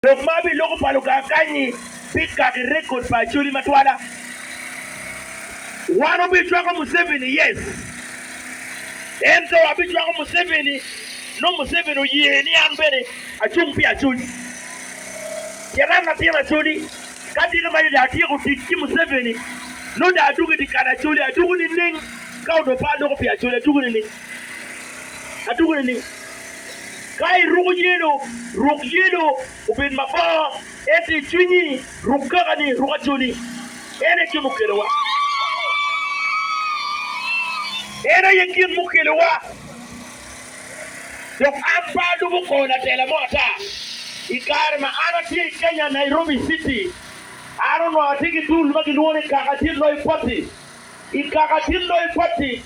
Lok ma aye loko pa Lukaa kany-nyi bikaki rekod pa Acholi matwala. Wan wubicwako Museveni? Yes! Ento abicwako Museveni nongo Museveni oye ni an bene acung pi Acholi. Pien an latin Acholi, ka tika ma dong atyeko tic ki Museveni, nongo dong adwogo i dye kal Acholi. Adwogo nining? Ka odong pe aloko pi Acholi, adwogo nining? Adwogo nining? Ka iruko yelo, ruk yelo obed mabor, ento i cwinyi ruk kakani, ruk acoli. En aye gin mukelowa. En aye gin mukelowa, dok an pe alubo kor latela mo ata. I kare ma an atye i Kenya, Nairobi citi, an onongo atye ki dul ma gilwongo ni Kaka Tin Loyo Pati. I Kaka Tin Loyo Pati,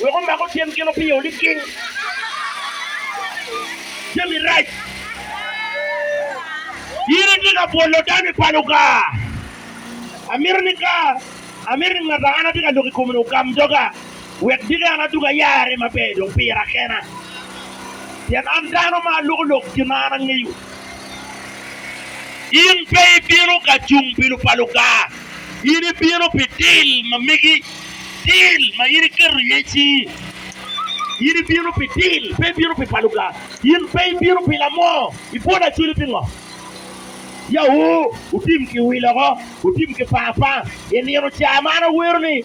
Wek omako tyen gin opingo niking jami rac. In itye ka bwolo dano i palo ka? Amito ni ka amito ni ngat a an atye ka lok i kome-ni ogam doga, wek diki an adug ayare maber dong pira kena, pien an dano ma aloko lok gin ma an angeyo. In pe ibino ka cung pi lupa Luka, in ibino pi til ma megi, til ma in iketo iye cingi. In ibino pi til, pe ibino pi pa Luka. In pe ibino pi lamo, ibwolo acoli pingo? Ya wu, wutim ki wil oko, wutim ki pa apanga. I nino ca man awero ni,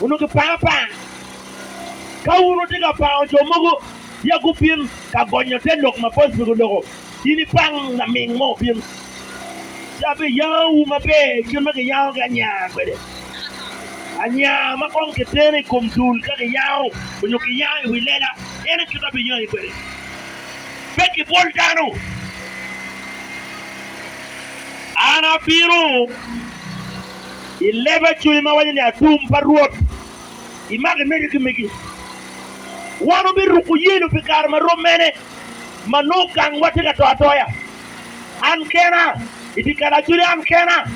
Onongo kiparo apara. Ka wun wutye ka pango jo mogo ya gubin ka gonyo te lok ma bos pigi oloko, in ipang laming mo obin, ci abiyangowu maber kit ma kiyangogi anya kwede, anya ma kong kitero i kom dul ka kiyango nyo kiyango i wi lela, en aye kit ma abiyangi kwede. Pe kibwol dano. An abino. I leba cwinyi ma waco ni atum pa Rwot, imak imedde ki megi. Wan wubiruko yelo pi kare ma rom mene ma nongo gangwa tye ka to atoya? An kena, i dye kal acoli an kena,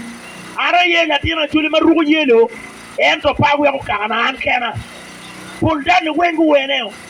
an aye latin acoli ma ruko yelo, ento pe aweko kakana an kena. Pol dani weng guweneo.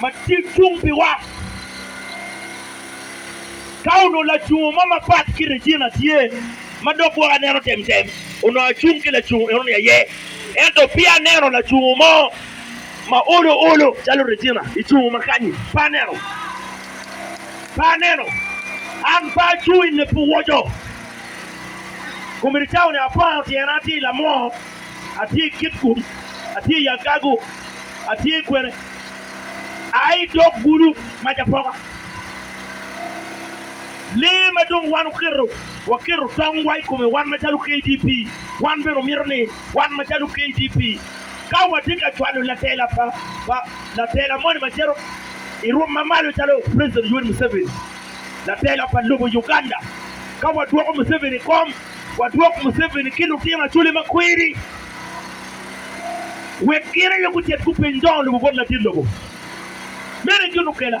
ma tye cung piwa. Ka onongo lacungo mo mapat ki Regina tye ma dok gwoko aneno temtem, onongo acung ki lacungo enoni aye. Ento peya aneno lacungo mo ma olo olo calo Regina i cungo ma kanyi. Pe aneno. Pe aneno. An pe acung i nge puwoco. Komericao-ni apwango tyena, atye i lamwo Atye i kit kulu, atye i agago, atye i kwene, aa i dog gulu mac apoka. Lee ma dong wan oketo, waketo tongwa i kome wan macalo KDP, wan bene omito ni wan macalo KDP, ka watye ka cwalo latela pa, pa, latela moni ma cito i rwom ma malo calo President Yoweri Museveni, latela pa lobo Uganda, ka wadwoko Museveni i kom. wadwok Museveni ki lutino Acholi ma kweri wek gin aye gucit gupenye dongo lobo bot ladit lobo. Meno en joni okela.